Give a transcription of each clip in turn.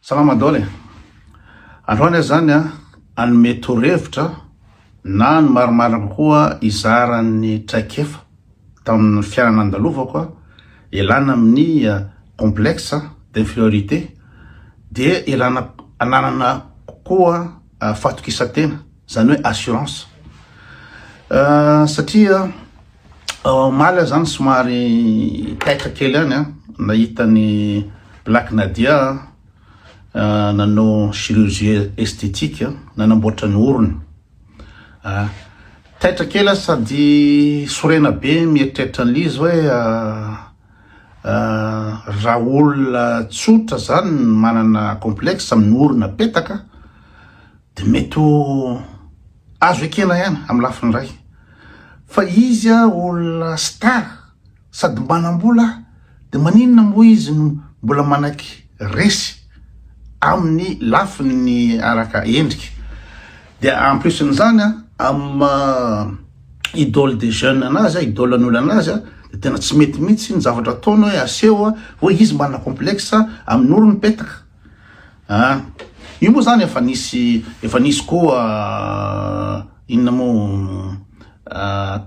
Salama Daholo e! Androany aho zany an hanome torohevitra na ny marimarina kokoa hizara ny traikefa tamin'ny fiainana nandalovako an, ialana amin'ny complexe d'inferiorité dia ialana hananana kokoa fahatokisan-tena, zany hoe assurance satria. Omaly aho zany somary taitra kely any an, nahita ny Black Nadia nanao chirurgie esthétique, nanamboatra ny orony. Taitra kely aho sady sorena be mieritreritra an'i Liz hoe raha olona tsotra zany manana complexe amin'ny orona petaka, Dia mety ho azo ekena ihany amin'ny lafiny iray fa izy olona star sady manam-bola dia maninona moa izy no mbola manaiky resy amin'ny lafiny araka endrika. Dia en plus n'izany amin'ny idole des jeunes anazy, idole an'ny olona anazy dia tena tsy mety mihitsy ny zavatra ataony hoe aseho hoe izy manana complexe amin'ny orony petaka. An! Io moa zany efa nisy, efa nisy koa inona moa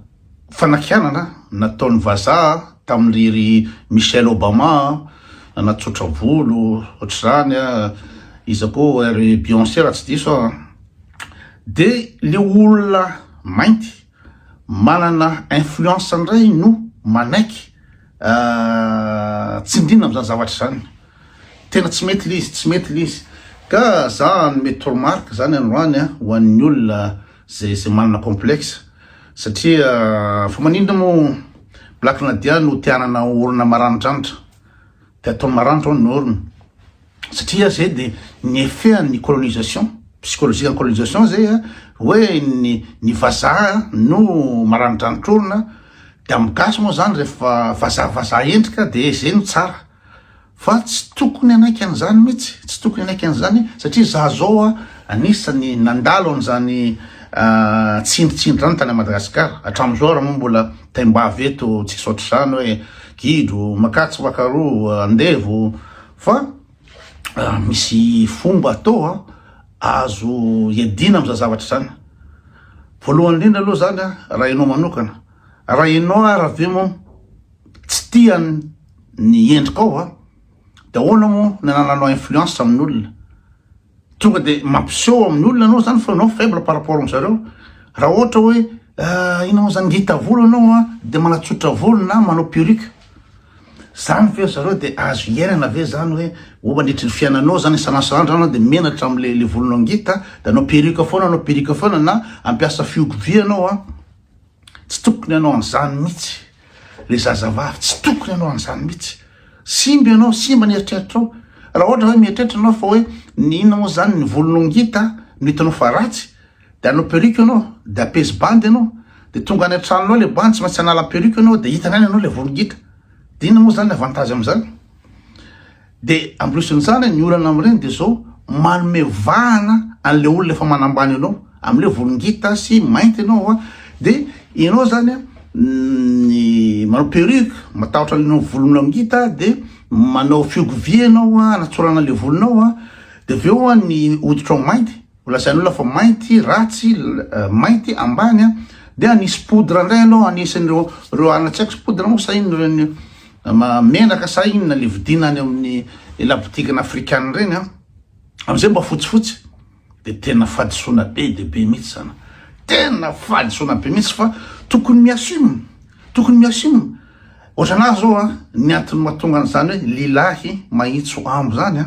fanakianana nataon'ny vazaha tamin'ilay ry Michelle Obama natsotra volo ohatr'izany an, iza koa ry Beyonce raha tsy diso aho an! Dia ilay olona mainty manana influence indray no manaiky. tsindrina amzany zavatra zany tena tsy mety lizy tsy mety lizy ka za anome tormark zany androany a ho an'ny olona zay zay manana complexe satria fa maninona moa black nadia no tianana orina maranidranitra te ataony maranitra ao ny orina satria zay de ny effet an'ny colonisation, psychologique en colonisation zay a, hoe ny ny vazaha no maranidranitr-orona, de amin'ny gasy moa zany rehefa vazaha vazaha endrika de zay no tsara, fa tsy tokony hanaiky an'izany mihitsy, tsy tokony hanaiky an'izany satria za zao a anisan'ny nandalo an'izany tsindritsindry zany tany Madagasikara, hatramin'izao ary moa mbola taimbavy eto tsisy ohatr'izany hoe gidro, makatso, makaroa, andevo, Fa misy fomba atao an, azo iadiana amin'izany zavatra izany. Voalohany indrindra aloha izany an, raha ianao manokana, raha ianao ary ve moa tsy tia ny endrikao an, dia ahoana moa ny anananao influence amin'olona. Tonga de mampiseho amin'ny olona anao zany fa anao faible par rapport am zareo. Raha ohatra hoe ah, ino mo zany ngita volo anao an, de manatsotra volo na manao perruque. Zany ve ry zareo de azo iainana ve zany hoe ho mandritry ny fiainanao zany isan'asan'andro zany anao de menatra amle le volonao ngita de anao perruque foana anao perruque foana na ampiasa fihogo vy anao an. Tsy tokony hanao an'izany mihitsy le zazavavy, tsy tokony hanao an'izany mihitsy. Simba ianao, simba ny eritreritrao. Raha ohatra hoe mieritreritra ianao fa hoe ny inona moa izany ny volonao ngita no hitanao fa ratsy dia hanao perruque ianao, dia hampiesy bandy ianao, dia tonga any an-tranonao ilay bandy, tsy maintsy hanala perruque ianao dia hitany any ianao ilay volo ngita. Dia inona moa izany ny avantage amin'izany? Dia en plus an'izany ny olana amin'ireny dia izao, manome vahana an'ilay olona efa manambany anao, amin'ilay volon-gita sy mainty ianao dia ianao izany ny manao perruque, matahotra ny volonao ngita dia manao fiogovia ianao hanatsorana ilay volonao dia avy eo ny hoditrao mainty. Ho lazain' olona fa mainty, ratsy, mainty, ambany a! Dia nisy poudre indray aloha anisan' ireo ireo hanina tsy haiko poudre moa sa inona ireny menaka sa inona le vidiana any amin' ny la boutique ny afrikana ireny a! Amin' izay mba fotsifotsy dia tena fahadisoana be dia be mihitsy izany, tena fahadisoana be mihitsy fa tokony mi assume, tokony mi assume, ohatran' ahy zao a ny antony mahatonga an' izany hoe lilahy mahitso ambo izany a!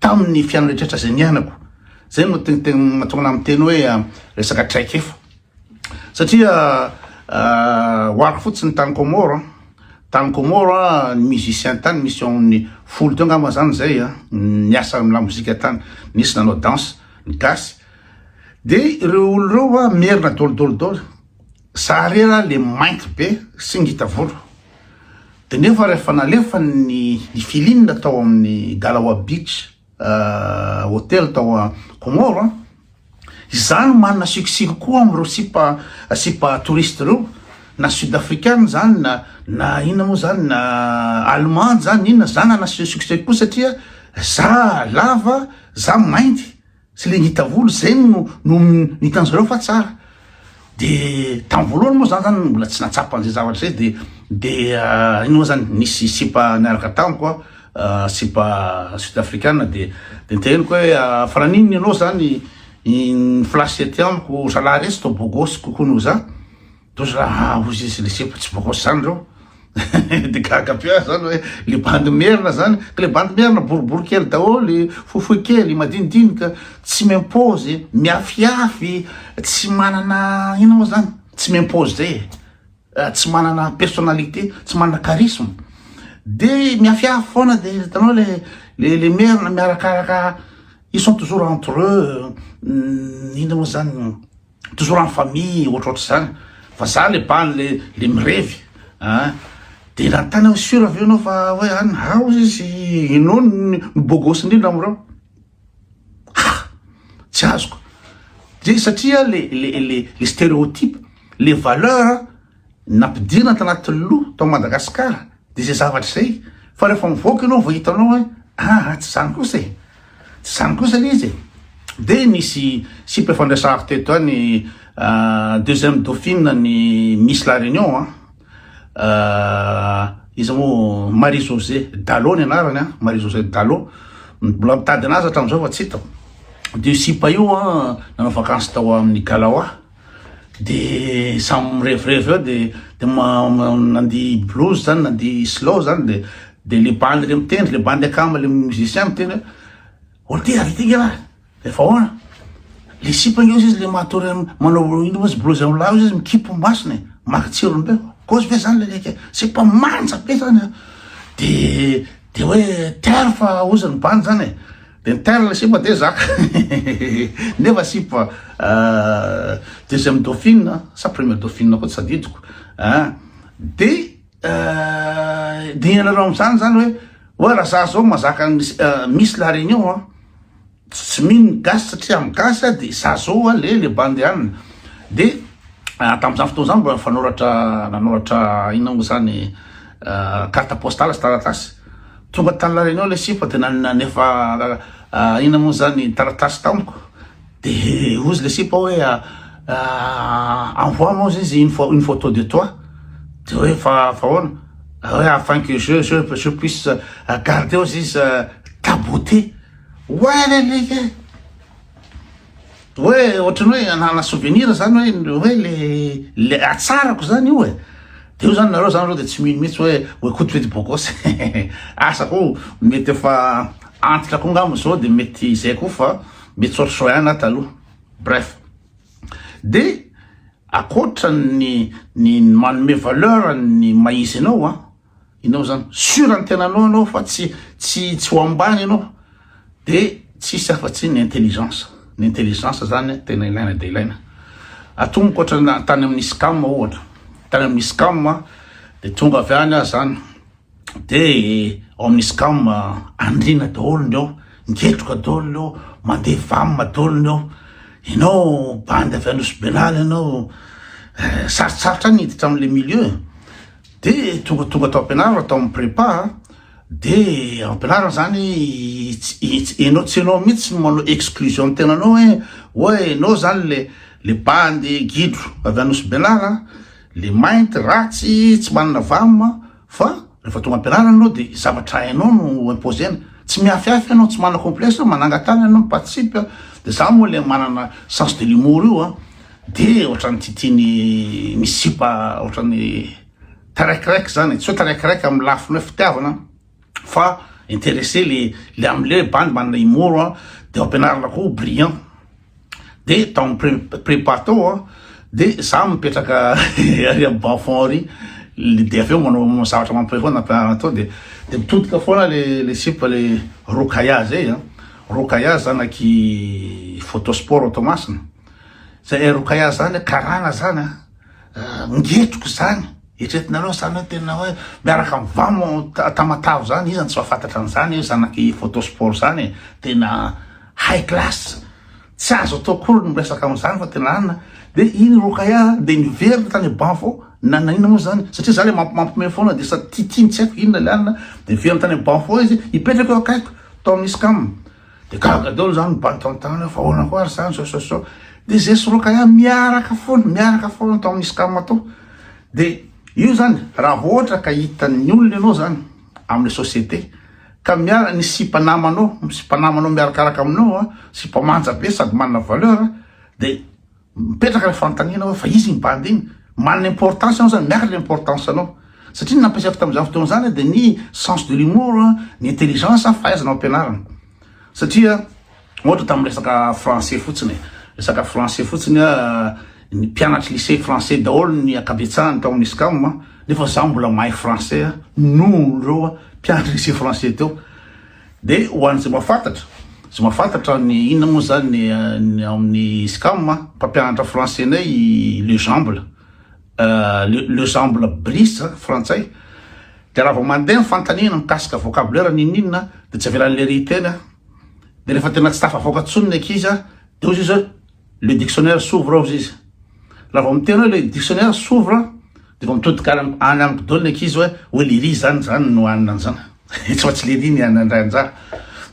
Tamin' ny fiainana rehetra izay niainako. Izay no mahatonga anah miteny hoe resaka traikefa. Satria ho arako fotsiny tany Comores, tany Comores ny musiciens tany misy eo amin' ny folo teo angamba izany izay niasa amin' ny lamozika tany. Nisy nanao danse ny gasy. Dia ireo olona ireo merina dôly dôly dôly. Za re ra le mainty be sy ngita volo de nefa rehefa nalefany ny i Filine tao amin'ny Galawa Beach Hotel tao Comore an, izaho no manana sikosiko koa amin'ireo sipa sipa touriste ireo na sud african zany na na inona moa zany na allemande zany na inona za nanasiho sikoseko koa satria za lava za mainty Tsy le ngita volo zay no no nitan zareo fa tsara de tam voalohany moa zany zany mbola tsy natsapa an'izay zavatra zay de de ino moa zany nisy sipa niaraka tamiko a sipa sud africana de de niteneniko hoe fa naninona ianao zany ny flash ety amiko zalahy resy toa beau gosse kokoa noho za Toa zala haa hozy izy le sipa tsy bokos zany reo de gaga be ah zany hoe le bandy merina zany ka le bandy merina boribory kely daholo fohifohy kely madinidinika tsy mimpozy miafiafy tsy manana inona moa zany tsy mimpozy zay e tsy manana personnalité tsy manana charisme de miafiafy foana de hitanao le le le merina miarakaraka ils sont toujours entre eux inona moa zany toujours en famille ohatrohatr zany fa za le bany le le mirevy an de nanontany aho sur avy eo anao fa hoe any ao izy enao ny bogosy indrindra amreo ha tsy azoko de satria le le le le stereotype le valeur Nampidirina tanaty loha tao Madagascar dia izay zavatra izay fa rehefa mivoaka ianao vao hitanao hoe aa tsy izany kosa e! tsy izany kosa ilay izy e! dia nisy site fandraisako teto an ny deuxième dauphine ny Miss la Réunion an iza moa Marie José Dalo ny anarany an Marie José Dalo mbola mitady anazy hatramin'izao fa tsy hitako dia io sipa io an nanao vakansy tao amin'ny Galawa de samy mirevirevy eo de de nandihy blues zany nandihy slow zany de de le bandy le mitendry le bandy akama le musicien miteny hoe oh ty avy ty nge lah de fa ahoana le sipa nge ozy izy le matory manao ino moa izy blues amy lahy ozy izy mikimpy masony e maka tsirony be kozy ve zany le leke sipa manja be zany a de de hoe terf ozy ny bandy zany e Intel sipa de za nefa sipa deuxième dauphine sa première dauphine koa tsy tadidiko ah de de ianareo am'zany zany hoe hoe raha za zao mazaka misy la réunion a tsy mino gasy satria am gasy a de za zao a le le bandeanina de tam'zany fotoana zany mbola fanoratra nanoratra inona moa zany carte postale sy taratasy Tonga tany lalina eo ilay sipa dia nanefa inona moa izany taratasy tamiko dia hozy ilay sipa hoe envoie moi izy une photo de toi dia hoe fa fa ahoana hoe afin que je je je puisse garder hozy izy ta beauté oay leleka e Hoe ohatran'ny hoe hanana souvenir zany hoe hoe le le hatsarako zany io e. Dia io zany nareo zany reo dia tsy mino mihitsy hoe hoe koto fety bokos asa koa mety efa antitra koa ngamba zao dia mety izay koa fa mety sao sao ihany na taloha bref. Dia akoatra ny ny manome valeur ny maha izy anao a. Inona zany? Sûr ny tenanao anao fa tsy tsy tsy ho ambany ianao de tsisy afa tsy ny intelligence. Ny intelligence zany tena ilaina dia ilaina. Atomboka ohatra tany amin'ny SCAM ohatra. Tany amin'ny SCAM dia tonga avy any aho zany de ao amin'ny SCAM andriana daholo ny ao, ngetroka daholo ny ao, mandeha vam daholo ny ao. Ianao bandy avy any Nosy-Benala ianao, eh, sarotsarotra ny hiditra amin'ilay milieu e. Dia tonga tonga tao am-pianarana tao amin'ny prépa dia am-pianarana zany enao tsy enao mihitsy no manao exclusion ny tenanao hoe hoe enao zany le le bandy gidro avy any Nosy-Benala le mainty ratsy tsy manana vama fa rehefa tonga am-pianarana enao dia zavatra hainao no imposer-na tsy mihafihafy enao tsy manana complexe manangan-tàna enao mipatsipy dia za moa le manana sens de l'humour io an Dia ohatran'ny titiany misy sipa ohatran'ny taraikiraiky zany, tsy hoe taraikiraiky amin'ny lafiny hoe fitiavana fa intéressé le le am'le hoe bandy manana humour an, de ao am-pianarana koa brillant, de tao amin'ny pre- prépa tao an, de za mipetraka ary amin'ny bas fond ary, de avy eo manao zavatra mampihomehy foana am-pianarana tao de de mitodika foana le le sipa le rokaya zay an, rokaya zanaky photo sport ao Toamasina. Zay Roukaya zany karana zany an, ngetiko izany, eritreretinareo zany hoe tena hoe miaraka amin'ny vamo Tamatave zany, iza no tsy mahafantatra an'izany hoe zanak'i Photo Sport zany e, tena high class, tsy azo atao akory ny miresaka amin'izany fa tena anona, dia iny Roukaya dia niverina tany am-bavao nanahina moa zany satria za le mampiomehy foana dia sady tiatiany tsy haiko inona le anona, dia niverina tany am-bavao izy hipetraka eo akaikiko tao amin'ny scam. Dia gaga daholo zany mibantantany fa ahoana koa ary zany zao zao zao. Dia zay soroka ihany miaraka foana, miaraka foana tao amin'ny scam tao. Dia io zany raha vao ohatra ka hitan'ny olona ianao zany amin'ny société ka miara ny sipa namanao, sipa namanao miarakaraka aminao, sipa manja be sady manana valeur dia Mipetraka ny fanontaniana hoe fa iza iny bandy iny? Manana importance ianao zany, miakatra ny importance anao. Satria ny nampiasaiko tamin'izany fotoana izany dia ny sens de l'humour, ny intelligence, fahaizana mampianarana. Satria ohatra tamin'ny resaka français fotsiny e, resaka français fotsiny aho, ny mpianatry lycée français daholo ny ankabetsahany tao amin'ny SCAM nefa izaho mbola mahay français noho ireo mpianatry lycée français teo. De ho an'izay mahafantatra, izay mahafantatra ny inona moa izany ny ny ao amin'ny SCAM a, mpampianatra français-nay i Lejamble, le Lejamble Brice a, frantsay, de raha vao mandeha ny fanontaniana mikasika vocabulaire n'inon'inona a, de tsy avelan'ilay ry teny a, de rehefa tena tsy tafavoaka intsony ny ankizy a, de hoy izy hoe. Le dictionnaire s'ouvre ao izy. Raha vao miteny hoe le dictionnaire s'ouvre dia vao mitodika any any amiko daholo ny ankizy hoe hoe lery izany izany no hanina an'izany. Tsy fa tsy lery ny hanina indray anjara.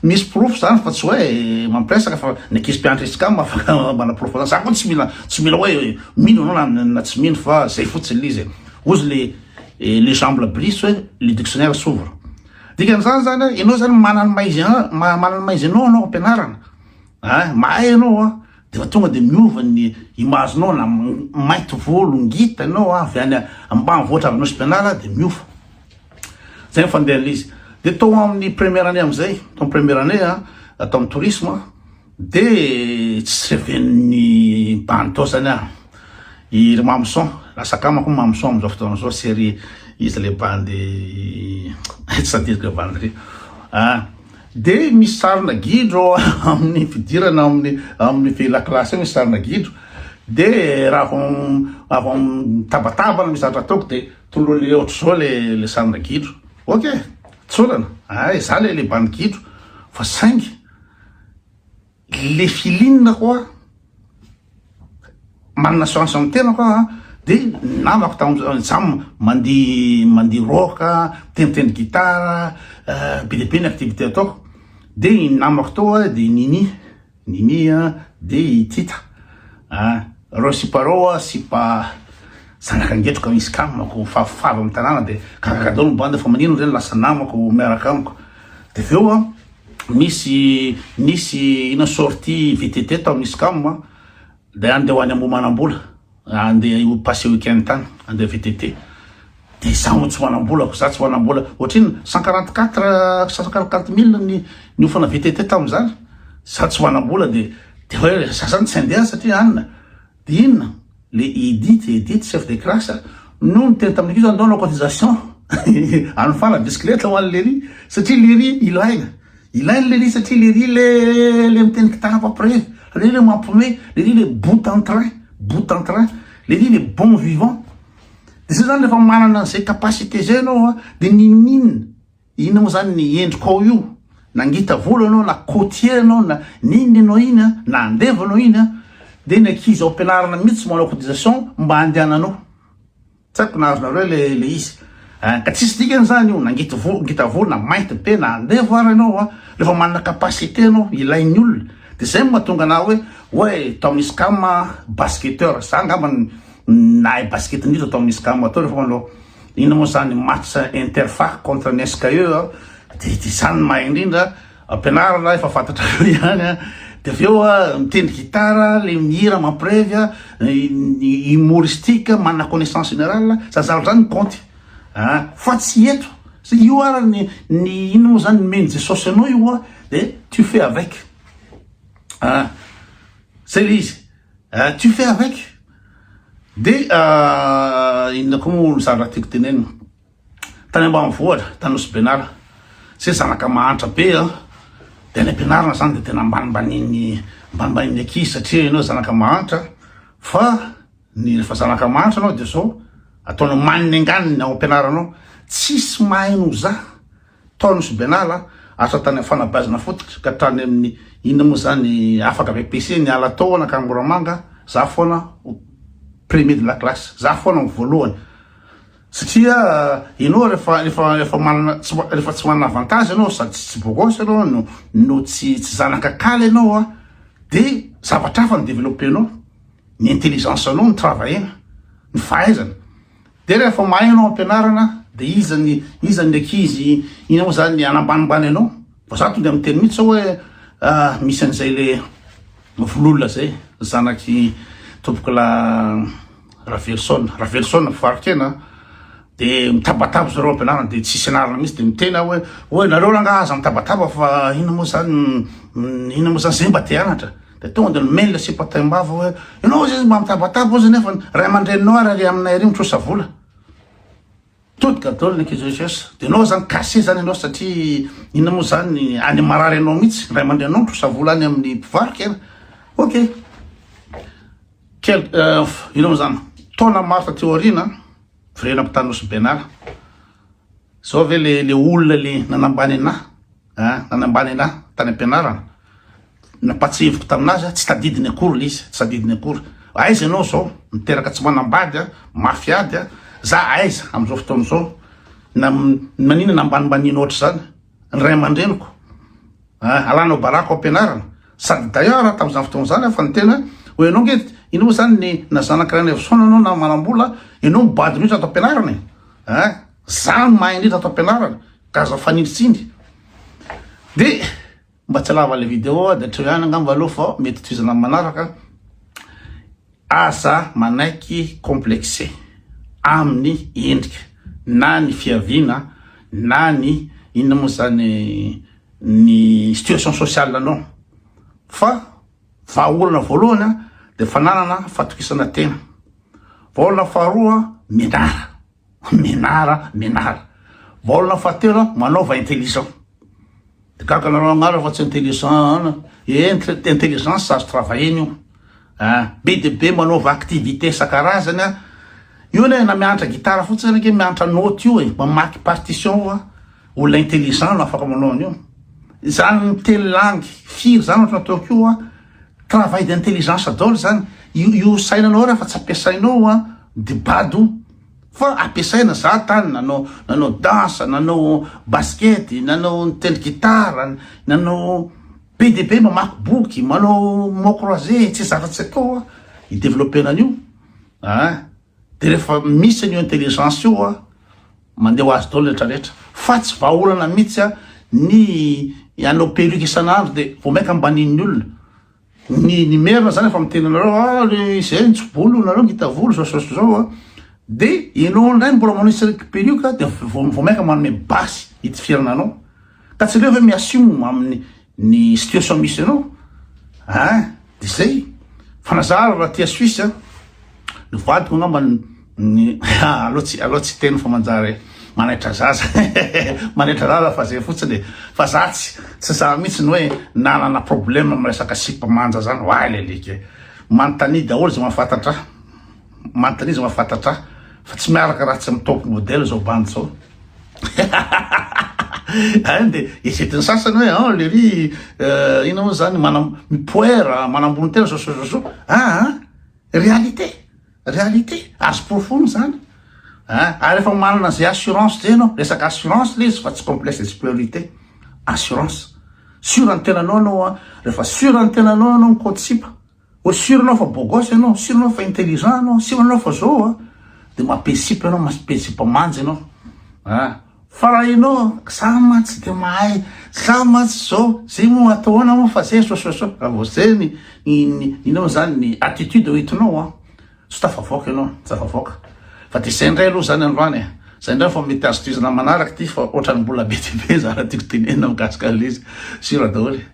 Misy porofo izany fa tsy hoe mampiresaka fa ny ankizy mpianatra Scam afaka manaporofo an'izany. Za koa tsy mila tsy mila hoe mino anao na na tsy mino fa zay fotsiny le izy e. Ozy le eh, le Jean Blabrice hoe le dictionnaire s'ouvre. Dikan'izany zany hoe ianao zany manana ny maha izy anao maha- manana ny maha izy anao anao ampianarana. Eh mahay ianao a, de efa tonga de miova ny image nao na mainty volo ngita ianao avy any ambanivohitra avy Nosy Benala de miova. Zay ny fandehan'ilay izy. De tao amin'ny première année amizay, tao amin'ny première année a, tao amin'ny tourisme de tsy reven'ny mba nitaosany ahy i ry Mamoson, lasa akamako i Mamoson amizao fotoana izao sy ry iza le bandy tsy tadidiko le bandy ry a. Dia misy sarina gidro ao amin'ny fidirana ao amin'ny amin'ny feuille la classe ao misy sarina gidro dia raha vao vao mitabataba misy zavatra ataoko dia tololo le ohatr'izao le le sarina gidro ok tsorana ah izaho le le bandy gidro fa saingy Le filine ko a, manana chance amin'ny tenako aho a, de ny namako tamin'ny jam mandihy mandihy rock a, mitendry tendry guitare a, be dia be ny activité ataoko, de ny namako tao a de i Nini, Nini a, de i Tita a, reo sipa reo a sipa zanaka ngetroka misy kamako favovavo amin'ny tanàna de gaga daholo ny bande fa maninona re ny lasa namako miaraka amiko, de avy eo a Misy nisy ina sortie VTT tao amin'ny SCAM a, dia andeha ho any Ambohimanambola, andeha ho passer week-end tany, andeha VTT. Dia izaho tsy manam-bola, izaho tsy manam-bola. Ohatrinona, cent quarante quatre, cent quarante quatre mille ny niofana VTT tamin'izany. Izaho tsy manam-bola dia dia hoe izaho izany tsy handeha satria anona. Inona le Edith Edith chef de classe no niteny tamin'ny ankizy hoe andao hanao cotisation any fala bisikileta ho an'i Lery satria Lery ilaina ilainy Lery satria Lery le le miteny kitara mpampirevy Lery le mampiomehy Lery le bout en train bout en train Lery le bon vivant de zay zany rehefa manana an'izay capacité zay ianao a de ninoninona Inona moa zany ny endriko ao io? Na ngita volo anao na cotier anao na n'inona enao iny an, na andevo anao iny an, de ny ankizy ao am-pianarana mitsy manao cotisation mba andehananao. Tsy aiko na azonareo le le izy an, ka tsisy dikany zany io na ngita volo ngita volo na mainty be na andevo ary anao an, refa manana capacité anao ilain'ny olona de zay mahatonga anah hoe oay tao amin'ny scam an basketteur, za angamba nahay basket indrindra tao amin'ny scam tao refa manao Inona moa zany match interfar contre ny SKE a, de de zany ny mahay indrindra, ampianarina efa fantatrareo ihany a, de avy eo a mitendry gitara, le mihira mampirevy a, humoristique, manana connaissance générale, zany zavatra zany ny compte a, fa tsy eto, zay io ara ny ny inona moa zany nomen'i Jesosy anao io a de tu fais avec a, zay le izy a, tu fais avec. Dia inona koa moa ny zavatra tiako tenenina? Tany ambanivohitra, tany Nosy-Benala, satria zanaka mahantra be an, dia any am-pianarana izany dia tena ambanimbanian'ny ambanimbanian'ny ankizy satria ianao zanaka mahantra fa ny rehefa zanaka mahantra ianao dia izao ataonao maninengany ny ao am-pianaranao, tsisy mahay noho za. Tao nosy Benalla asa tany am fanabeazana fototra ka tany aminy inona moa zany afaka avy PC ny ala tao ana kangoramanga za foana ho premier de la classe za foana ho voalohany satria enao refa refa refa manana refa tsy manana avantage enao sady tsy bogos enao no no tsy tsy zanaka kala enao a de zavatra hafa no develope nao ny intelligence nao ny travail na ny fahaizana Dia rehefa mahay ianao ampianarana dia iza ny iza ny ankizy iny moa zany hanambanimbany anao? Vao za tonga miteny mihitsy zao hoe misy an'izay le vololona zay zanaky tompokla Raveloson, Raveloson Faritena de mitabataba zareo ampianarana de tsisy anarana mihitsy de miteny aho hoe oe nareo rangahy aza mitabataba fa inona moa zany inona moa zany zay mba te hanatra? Dia tonga dia nomeny ilay sipa taim-bava hoe, ianao hozy izy mba mitabataba hozy nefa ny ray aman-dreninao ary ary aminay ary mitrosa vola. Todika daholo ny ankizy rehetra. Dia ianao izany cassé izany ianao satria inona moa izany any marary anao mihitsy, ny ray aman-dreninao mitrosa vola any amin'ny mpivarotra eny. Ok. Quel, euh, inona moa izany, taona maro taty aoriana, firenena mpitandroso benala. Izao ve le, le olona le nanambany anà? Nanambany anà tany am-pianarana. Nampahatsiahiviko tamin'azy aho, tsy tadidiny akory ilay izy, tsy tadidiny akory. Aiza ianao izao? Miteraka tsy manambady, mafy ady. Za aiza amin'izao fotoana izao? Maninona ambanimbanianao ohatr'izany ny ray aman-dreniko? Alanao baraka ao am-pianarana. Sady d'ailleurs aho tamin'izany fotoana izany fa ny tena hoe ianao ange, iny moa izany na zanak'i Rainivo Soana ianao na manam-bola, ianao mibado mihitsy ato am-pianarana e! Za no mahay indrindra ato ampianarana ka aza fanindritsindry. De mba tsy alava le video de atreo ihany angamba aloha fa mety tohizana am manaraka. Aza manaiky complexe aminy endrika na ny fiaviana na ny inona moa zany ny situation sociale anao fa vahaolana voalohany a de fananana fatokisana tena. Vahaolana faharoa mianara. Menara menara. Baolina fahatelo manaova intelligent. Gaga nanao agnarana fa tsy intelligent eh, intelligence azo travailler-ny io. Ah, be de be manaova activité isan-karazany. Io ne na mianatra gitara fotsiny anake mianatra note io e, mamaky partition fa olona intelligent no afaka manao an'io. Izany miteny langue firy zany ohatry ny ataoko io a. Travail d'intelligence daholo zany, io sainanao raha fa tsy ampiasainao an de bado o! Fa ampiasaina, za tany nanao nanao danse, nanao basket, nanao nitendry gitara, nanao be dia be, mamaky boky, manao mots croisés, tsy zavatra tsy atao an i developper an'io an. Dia rehefa misy an'io intelligence io an, mandeha ho azy daholo ny rehetra rehetra. Fa tsy vahaolana mihitsy an, ny hanao perruque isan'andro dia vao mainka ambanin'ny olona. Ny ny merina zany efa miteny anareo hoe ah le izay nitso-bolo nareo ngita volo zao zao sy zao an, dia enao indray mbola manisy an'ilay perruque dia vao vao mainka manome basy hitifirana anao. Ka tsy aleo ve mi-assume amin'ny Ny situation misy anao hein de zay fa na za ary raha aty à Suisse a ny vadiko angamba ny aleo tsy aleo tsy hiteny fa manjary manaitra zaza manaitra zaza fa zay fotsiny e fa za tsy tsy za mihitsy ny hoe nanana problème am resaka sipa manja zany oay lelika e manontania daholo zay mahafantatra ahy Manontania izy mahafantatra ahy fa tsy miaraka raha tsy amin'ny top model izao bandy izao. Any dia esetin'ny sasany hoe ah lery euh, ina moa zany manam mipoera manambony tena zoso zoso ah, ah réalité réalité azo porofony zany ah ary efa manana zay assurance zay ianao resaka assurance le izy fa tsy complexe de supériorité assurance sur ny tenanao ianao a rehefa sur ny tenanao ianao mikotsipa Ohatry sûr anao fa beau gosse ianao, sûr anao fa intelligent ianao, sûr anao fa zao a, de mampihetsipy anao, mampihetsipamanja ianao a, fa raha ianao za mantsy tsy de mahay, za mantsy zao, zay moa atao ahoana moa fa zay sososo, raha vao zay ny ny ny ny inona moa zany ny attitude hoentinao a, Tsy tafavoaka ianao, tsy tafavoaka. Fa dia izay indray aloha izany androany e. Izay indray vao mety azo tohizana manaraka ity fa ohatran'ny mbola be dia be izany raha tiako tenenina mikasika an'ilay izy. Sira daholo e.